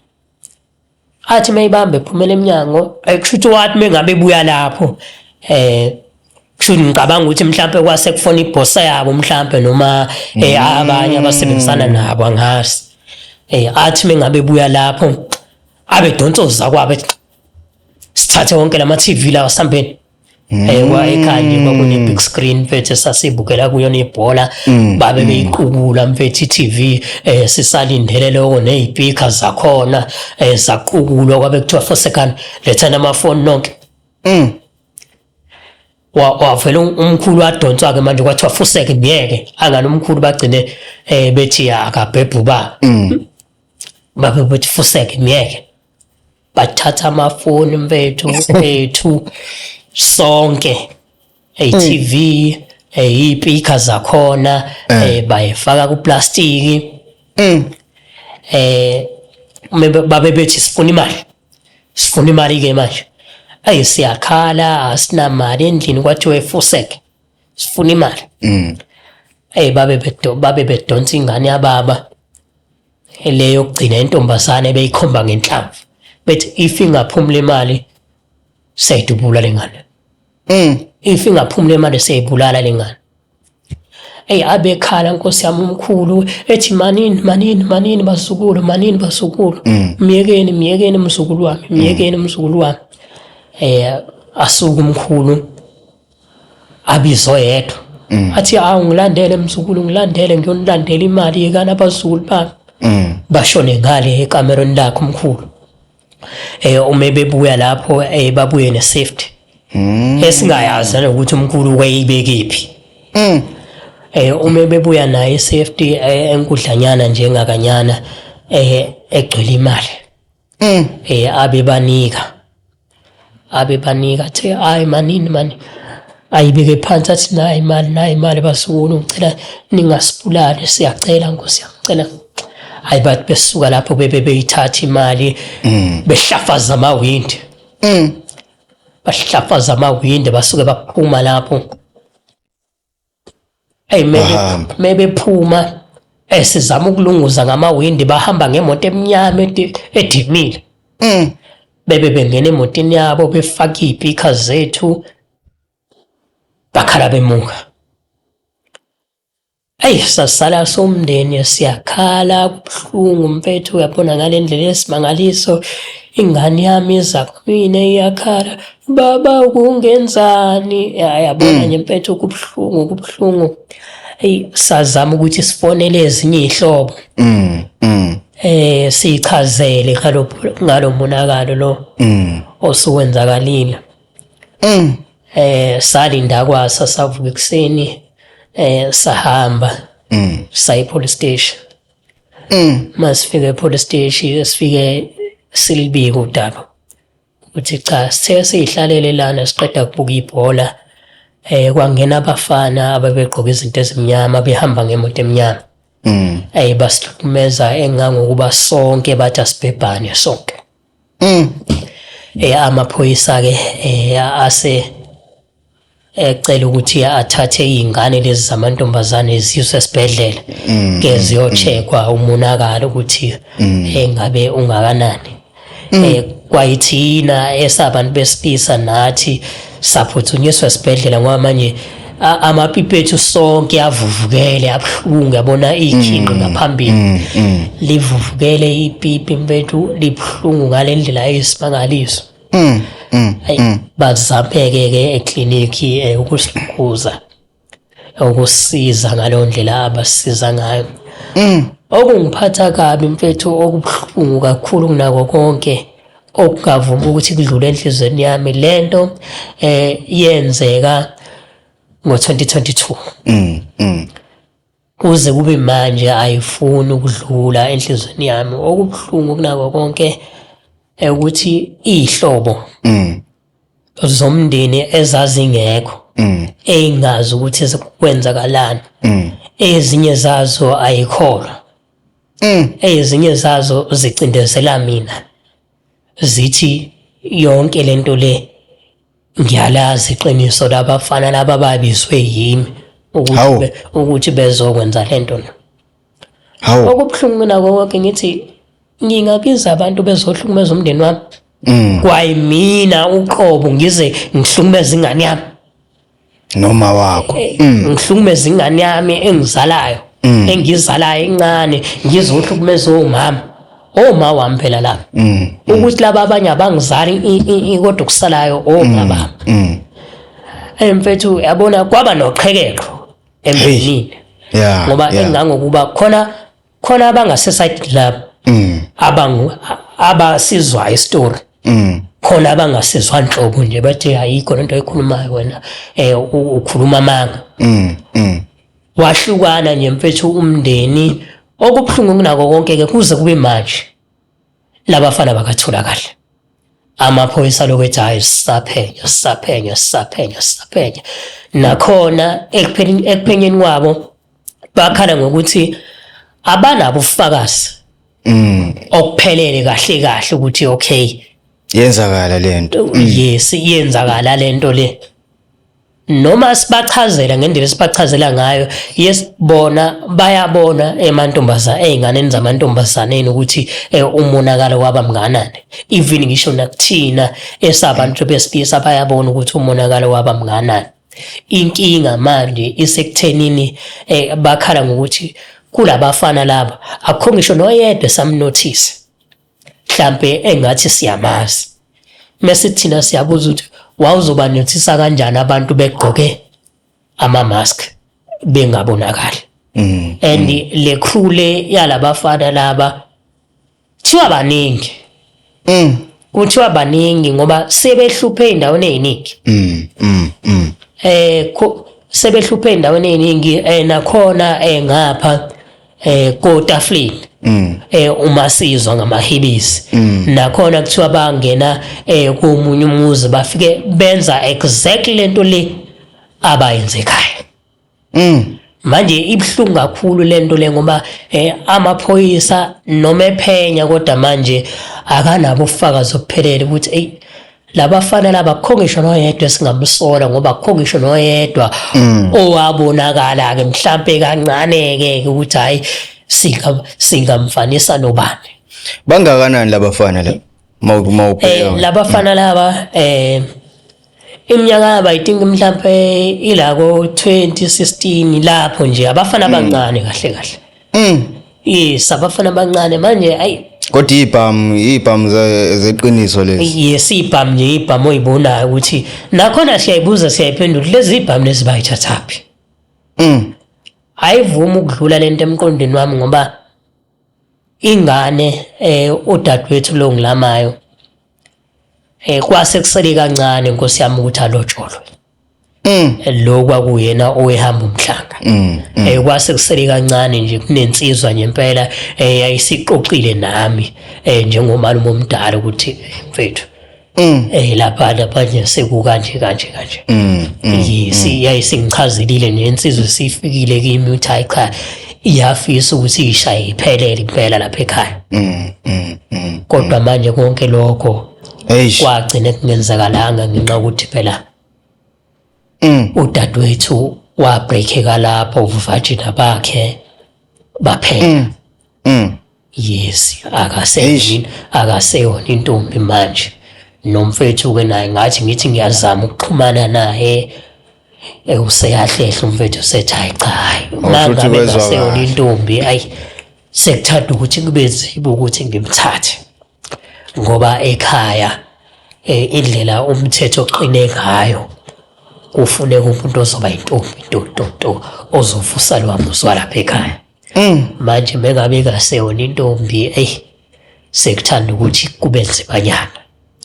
athi mayibambe phumela emnyango kushuthi wathi mengabe buya lapho eh kushuthi ngicabanga ukuthi mhlambe kwase kufona ibhosa yabo mhlambe noma eh mm. abanye abasebenzisana nabo angazi eh athi mengabe buya lapho abe donsoza kwabe sithathe wonke lama TV lawa sambeni Mm. Eh, kwa ekhaya nje kwakune big screen mfethu sasibukela kuyona ibhola mm. babe mm. beyiqukula mfethu iTV eh sisalindele lokho nezipika zakhona eh zaqukulwa kwabe kuthiwa for second letha nama phone nonke mm wavela umkhulu wadonswa ke manje kwathiwa fuseke ngeke angani umkhulu bagcine eh bethi akabhebhuba mm babe bethi fuseke ngeke bathatha amafoni mfethu mfethu sonke hey mm. TV hey ipika zakhona eh. hey bayifaka ku plastic mm. eh babe bethi sifuna imali sifuna imali ke manje ayi siyakhala asinamali endlini kwathiwa efuseke sifuna imali mm. hey babe bedonsa ingane yababa le yokugcina intombazane beyikhomba ngenhlamvu bethi if ingaphumula imali seyidubula lengane mm if ingaphumula imali seyibulala lengane eyi abekhala nkosi yami umkhulu ethi manini manini manini basukulu manini basukulu mm. myekeni myekeni mzukulu wami myekeni mzukulu wami eh asuka umkhulu abizwe yedwa mm. athi awu ngilandele mzukulu ngilandele ngiyonilandela imali yekani abazukulu bami mm. bashone ngale ekamerweni lakhe umkhulu eh uma bebuya lapho eh babuye ne safety mm. esingayazi ukuthi umkhulu wayibekephi mm. eh uma bebuya naye safety eh, enkudlanyana njengakanyana eh egcwele imali mm. eh abebanika abebanika the hayi manini mani ayibeke phansi athi nayi imali nayi imali basukulu ngicela ningasibulali siyacela nkosi yacela hayi bathi besuka lapho bebe beyithatha imali mm. behlafaza amawindi mm. bahlafaza amawindi basuke baphuma lapho Hey maybe Bahamba. maybe phuma eh sizama ukulunguza ngamawindi bahamba ngemoto emnyama edi- edimile. Mm. Bebe bengena emotini yabo befaka ipika zethu bakhala bemuka. Hey sasala somndeni siyakhala kubuhlungu mfethu uyabona ngalendlela esimangaliso ingane yami iza kumina iyakhala baba kungenzani ya yabona mm. nje mpethu kubuhlungu kubuhlungu eyi sazama ukuthi sifonele ezinye iy'hlobo mm, mm. eh sichazele ngalo monakalo lo osuwenzakalile eh salinda kwasa savuka ekuseni eh sahamba sayi police station masifike police station sifike silibika udaba Uthi cha sithe siyihlalele lana siqeda kubuka ibhola eh kwangena abafana ababegqoka izinto ezimnyama behamba ngemoto emnyama. Mm. Eh basihlukumeza engangokuba sonke bathi asibhebhane sonke. Mm. Eh amaphoyisa ke eh ase ecela ukuthi athathe iy'ngane lezi zamantombazane ziyiswe esibhedlela mm, ke mm, ziyocheckwa mm. umonakalo ukuthi engabe eh, ungakanani um eh, kwayithina esabantu besipisa nathi saphuthunyiswa esibhedlela ngoba manje amapipi ethu sonke avuvukele abuhlungu yabona iy'khinqi ngaphambili livuvukele ipipi mfethu libuhlungu ngale ndlela eyisimangaliso mm, mm, ayi mm. bazameke ke eclinic eh, ukusikhuthaza ukusiza ngaleyo ndlela abasiza ngayo mm. okungiphatha kabi mfethu okubuhlungu kakhulu kunako konke okungavumi ukuthi kudlule enhlizweni yami lento eh yenzeka ngo-2022 mm, mm. Kuze kube manje ayifuni ukudlula enhlizweni yami. Okubuhlungu kunako konke eh, ukuthi izihlobo Mm. zomndeni ezazingekho Mm. eyingazi ukuthi kwenzakalani. Mm. Ezinye zazo ayikholwa. Mm. Ezinye zazo zicindezela mina. Zithi yonke lento le Ngiyalazi iqiniso labafana laba babizwe yimi ukuthi ukuthi bezokwenza lento na. Hawu. Okubuhlungu mina konke ngithi ngingabiza abantu bezohlukumeza umndeni wami. Mm. Kwayimina uqobo ngize ngihlukumeza ingane yami. noma wakho eh, mm. ngihlukumeza ingane yami engizalayo mm. engizalayo incane ngizohlukumeza omama oma wami phela lapha mm. ukuthi laba abanye abangizali kodwa kusalayo oma baba hey mfethu yabona kwaba noqhekeko emndenini ngoba engangokuba khona khona abangase side club mm. abangu abasizwa istory mm. khona abangasizwa nhlobo nje bathi ayikho lento ekhulumayo wena eh ukhuluma amanga mm, mm. wahlukana nje mfethu umndeni okubuhlungu kunako konke ke kuze kube manje Labafana bakathula kahle. Amaphoyisa lokhu ethi hayi sisaphenyo sisaphenyo sisaphenyo sisaphenyo. Nakhona ekuphenyeni kwabo bakhala ngokuthi abanabo ufakazi mm. okuphelele kahle kahle ukuthi okay yenzakala lento yes yenzakala lento le noma sibachazela ngendlela esibachazela ngayo yes bona bayabona emantombazana ezinganeni zamantombazaneni ukuthi eh, umonakalo waba mnganani even ngisho nakuthina esabantu besilisa bayabona ukuthi umonakalo waba mnganani inkinga manje isekuthenini eh, bakhala ngokuthi kulabafana laba akukho ngisho noyedwa samnothisi mhlampe engathi siyamazi mese thina siyabuza ukuthi wawuzoba nothisa kanjani abantu begqoke ama mask bengabonakali mm, and mm. le crew le yalabafana laba thiwa baningi mm kuthiwa baningi ngoba sebehluphe endaweni eziningi mm mm, mm. eh sebehluphe endaweni eziningi eh nakhona eh ngapha eh kotaflini mm. eh uma sizwa ngamahibisi mm. nakhona kuthiwa bangena eh komunye umuzi bafike benza exactly lento le abayenze ekhaya mm manje ibhlungu kakhulu lento le ngoba eh amaphoyisa noma ephenya kodwa manje akanabo ufakazi ophelele ukuthi ey labafana laba kho ngisho noyedwa esingamsola ngoba kho ngisho noyedwa mm. owabonakala ke mhlambe kancane ke ukuthi hayi singa singamfanisa nobani bangakanani labafana la mawubheka eh labafana laba eh iminyaka yabo i think mhlambe ilako 2016 lapho nje abafana mm. abancane kahle kahle Mm. Yes, abafana abancane manje ayi kodwa ibhamu ibhamu zeqiniso lezi yes ibhamu nje ibhamu oyibonayo ukuthi nakhona siyayibuza siyayiphendula lezi ibhamu lezi bayithathaphi mm ayivumi ukudlula lento emqondweni wami ngoba ingane eh udadewethu lo ngilamayo eh kwase kusele kancane nkosi yami ukuthi alotsholwe Mm. lo kwakuyena owehamba umhlanga mm, mm. eh kwase kusele kancane nje kunensizwa nje impela eh yayisiqoqile nami eh njengomalume omdala ukuthi mfethu Mm. Eh lapha lapha nje sekuka nje kanje kanje. Mm. Yisi mm. yayisingichazelile nje insizwe sifikile kimi uthi hayi cha iyafisa ukuthi ishaye iphelele impela lapha ekhaya. Mm. Kodwa manje konke lokho Eish. kwagcine kungenzakalanga ngenxa ukuthi phela Mm. udadewethu wabreakeka lapho uvajina bakhe baphela Mm. yes akaseyini akaseyona intombi manje nomfethu-ke naye ngathi ngithi ngiyazama ukuxhumana naye eh, useyahlehla umfethu usethi hayi cha hayi Awusho ukuthi mangabe kwezwakala. ngaseyona intombi ayi sekuthanda ukuthi kube nzima ukuthi ngimthathe ngoba ekhaya eh, indlela umthetho oqine ngayo kufuneka umuntu ozoba intombi ntontonto ozovusa lwa muzwa lapha ekhaya mm. manje mengabe kaseyona intombi eyi sekuthanda ukuthi kube nzimanyana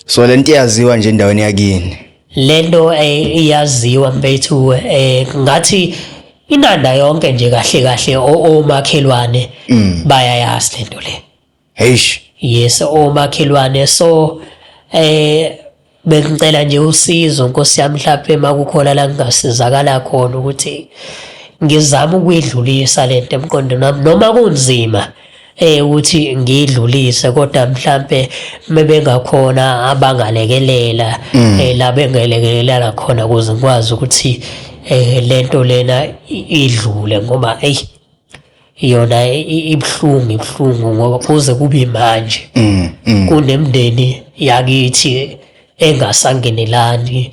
so le nto iyaziwa nje endaweni yakini le nto eh, iyaziwa mfethu eh, ngathi inanda yonke nje kahle kahle omakhelwane mm. bayayazi lento le Heish. Yes omakhelwane so eh bengicela nje usizo Nkosi yami mhlawumbe makukhona la ngingasizakala khona ukuthi ngizama ukuyidlulisa lento emqondweni wami noma kunzima eh ukuthi ngidlulise kodwa mhlambe mebengakhona abangalekelela mm. eh la bengelekelela khona ukuze ngikwazi ukuthi eh lento lena idlule ngoba hey yona ibuhlungu ibuhlungu ngoba kuze kube manje mm, mm. kunemndeni yakithi engasangenelani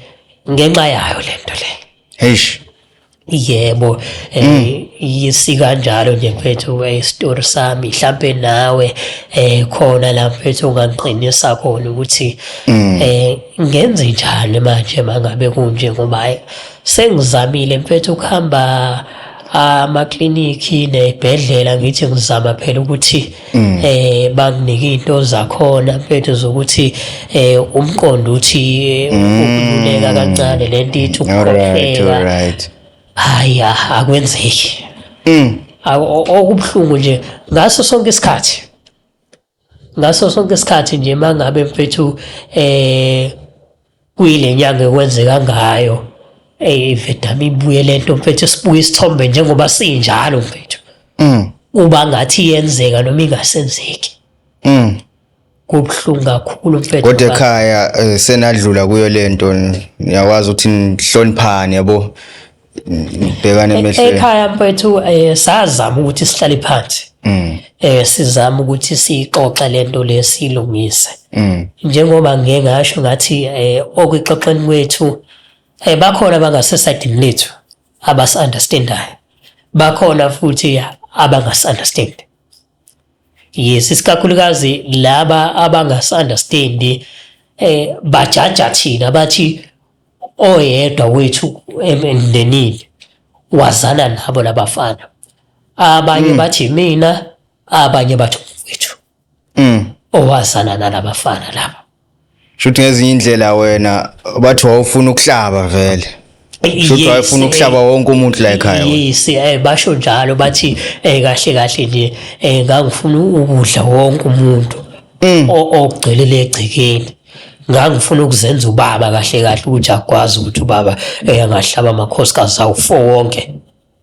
ngenxa yayo lento le eish yebo eh, mm. yisikanjalo nje mfethu isitori sami mhlampe nawe eh khona la mfethu ungangiqinisa khona ukuthi eh ngenze njani manje mangabe kunje ngoba sengizamile mfethu ukuhamba amaklinikhi nezibhedlela ngithi ngizama phela ukuthi mm. eh banginike into zakhona mfethu zokuthi eh umqondo uthi eh, mm. ukululeka kancane lento ithi ukukhokhela hayi ah, akwenzeki mm. okubuhlungu nje ngaso sonke isikhathi ngaso sonke isikhathi nje uma ngabe mfethu um eh, kuyile nyanga ekwenzeka ngayo eyi vedama ibuye le nto mfethu sibuye isithombe njengoba sinjalo mfethu mm. uba ngathi iyenzeka noma ingasenzeki mm. kubuhlungu kakhulu mfethu kodwa ekhaya eh, senadlula kuyo le nto niyakwazi ukuthi nihloniphane yabo ngibhekane emehlweni ekhaya mfethu eh sazama ukuthi sihlale phansi mm. eh sizama ukuthi sixoxe lento lesilungise mm. njengoba ngeke ngasho ngathi eh okwixoxeni kwethu eh bakhona abangasesidini lethu abas understandayo bakhona futhi abangas understand yes isikakhulukazi laba abangas understand eh bajaja thina bathi oyedwa wethu emndenini wazana nabo labafana abanye mm. bathi mina abanye bathi umfethu mm. owazana nalabafana laba shuthi ngezinye indlela wena bathi wawufuna ukuhlaba vele shuthi wayefuna eh, ukuhlaba wonke umuntu la ekhaya yes eh, basho njalo bathi eh, kahle kahle nje ngangifuna ukudla wonke umuntu Mm. ogcwele legcekeni ngangifuna ukuzenza ubaba kahle kahle ukuthi akwazi ukuthi ubaba eh, angahlaba amakhosikazi awu-four wonke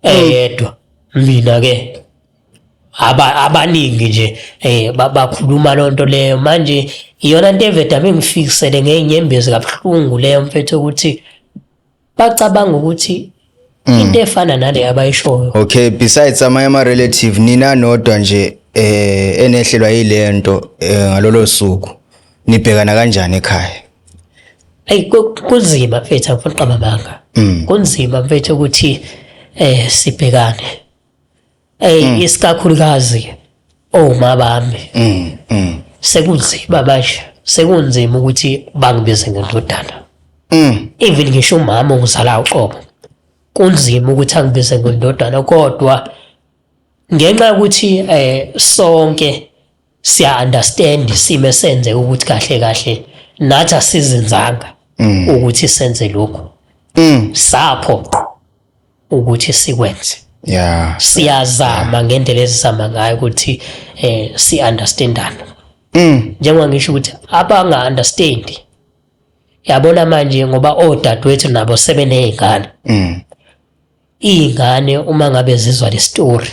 eyedwa mina-ke aba- abaningi nje um bakhuluma loo nto leyo manje iyona nto evedame ngifikisele ngey'nyembezi kabuhlungu leyo mfethu ukuthi bacabanga ukuthi mm. into efana nale abayishoyo okay besides amanye ama relative nina nodwa nje eh enehlelwa yilento eh, ngalolo suku nibhekana kanjani ekhaya ayi kunzima mfethu angifuni qaba banga mm. kunzima mfethu ukuthi eh sibhekane Ey mm. isikakhulukazi oma bami. Mm. mm. Sekunzima manje. Sekunzima ukuthi bangibize ngendodana. Mm. Even ngisho umama ongizala uqobo. Kunzima ukuthi angibize ngendodana kodwa ngenxa yokuthi eh sonke siya understand isimo esenze ukuthi kahle kahle nathi asizinzanga mm. ukuthi senze lokho mm. sapho ukuthi sikwenze yeah siyazama ngendlela ezizama ngayo ukuthi eh si understandana mm. njengoba ngisho ukuthi abanga understand yabona manje ngoba odadewethu nabo sebenezingane mm. ingane uma ngabe zizwa le story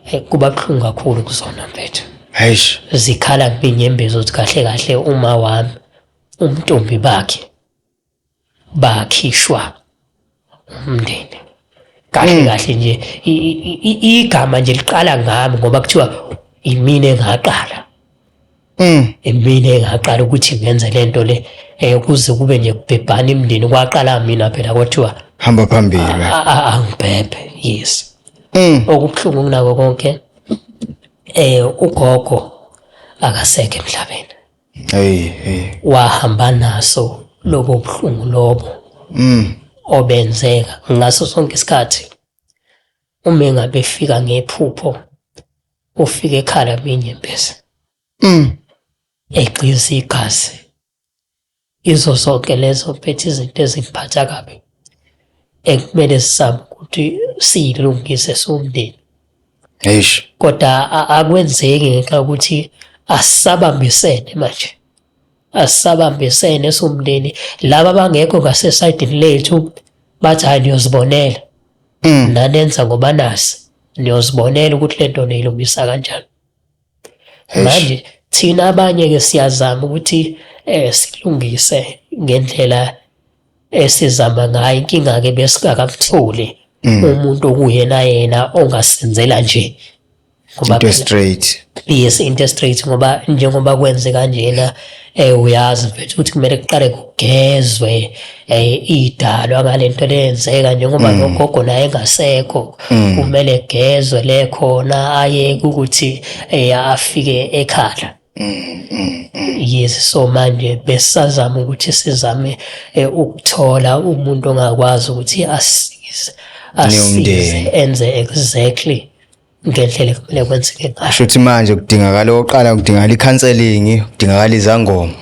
Hey, kuba buhlungu kakhulu kuzona mfethu Eish. zikhala kubinyembezi ukuthi kahle kahle uma wami umntombi bakhe bakhishwa umndeni kahle Mm. kahle nje i- i- i- igama nje liqala ngami ngoba kuthiwa imina engaqala Mm. Emile ngaqala ukuthi ngenze lento le eh kuze kube nje kubhebhana imndeni kwaqala mina phela kwathiwa hamba phambili angibhebhe yes mm. okubuhlungu kunako konke eh ugogo akaseke emhlabeni hey hey wahamba naso lobo buhlungu lobo mm obenzeka ngaso sonke isikhathi uma engabe efika ngephupho ufika ekhala minyembezi mm egqiza igazi izo zonke lezo mpethe izinto ezingiphatha kabi ekumele sisabe ukuthi siyilungise somndeni eish kodwa akwenzeki ngenxa yokuthi asabambisene manje asisabambisene somndeni laba bangekho ngasesayidini lethu bathi hayi niyozibonela mm. nanenza ngoba nasi niyozibonela ukuthi le nto niyilungisa kanjani manje thina abanye-ke siyazama ukuthi um silungise ngendlela esizama ngayo inkinga ke besingakakutholi mm. umuntu okuyena yena ongasenzela nje ngoba into straight yes into straight ngoba njengoba kwenze kanjena eh uyazi mfethu ukuthi kumele kuqale kugezwe eh idalwa ngalento lenzeka njengoba mm. nogogo naye engasekho mm. kumele gezwe le khona aye ukuthi eh afike ekhala Mm, mm, mm. Yes so manje besazama ukuthi sizame eh, ukuthola umuntu ongakwazi ukuthi asize asize enze exactly ngendlela ekumele kwenzeke ngayo. Kusho ukuthi manje kudingakala oqala kudingakala i-counseling, kudingakala izangoma.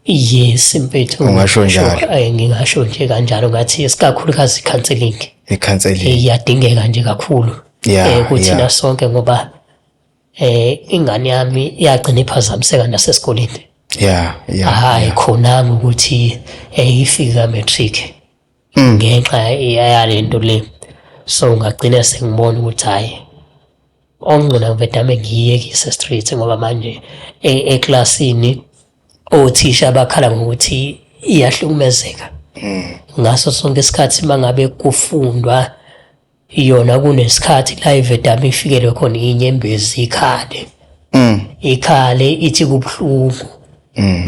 Yes mfethu. Ungasho njalo. Eh, ngingasho nje kanjalo ngathi isikakhulukazi i-counseling. I-counseling. Eh, iyadingeka nje kakhulu. Yeah, eh, kuthina yeah. sonke ngoba eh ingane yami iyagcina iphazamiseka nasesikoleni yeah yeah hayi khona ukuthi eyifika eh, matric mm. ngenxa yalento le so ngagcina sengibona ukuthi hayi ongcina ngivedame ngiyekise street ngoba manje e-, eclassini othisha bakhala ngokuthi iyahlukumezeka mm. ngaso sonke isikhathi mangabe kufundwa yona kunesikhathi la ivedama ifikelwe khona inyembezi ikhale mm. ikhale ithi kubuhlungu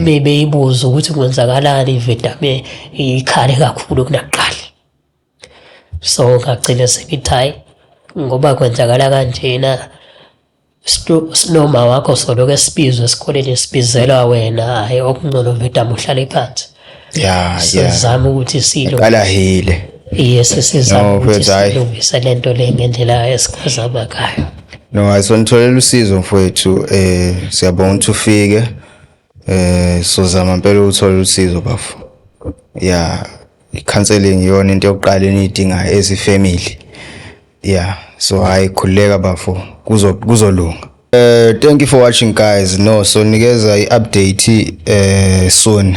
bebe mm. ibuza ukuthi kwenzakalani ivedame ikhale kakhulu kunakuqala so ngagcina sengithi hayi ngoba kwenzakala kanjena Sinoma wakho soloke sibizwe esikoleni sibizelwa wena hayi okungcono vedama uhlale phansi. Yeah, sizama ukuthi silo. Qala hile. Yes sizama ukuthi silungise lento le ngendlela esikhazaba ngayo. No, ayisonitholela usizo mfowethu eh siyabonga ukuthi ufike. Eh sozama impela ukuthola usizo bafo. Yeah, i-counseling iyona into yokuqala eniyidingayo as i-family. Yeah, so hayi khululeka bafo kuzo kuzolunga. Uh, thank you for watching guys no so nikeza i-update uh, soon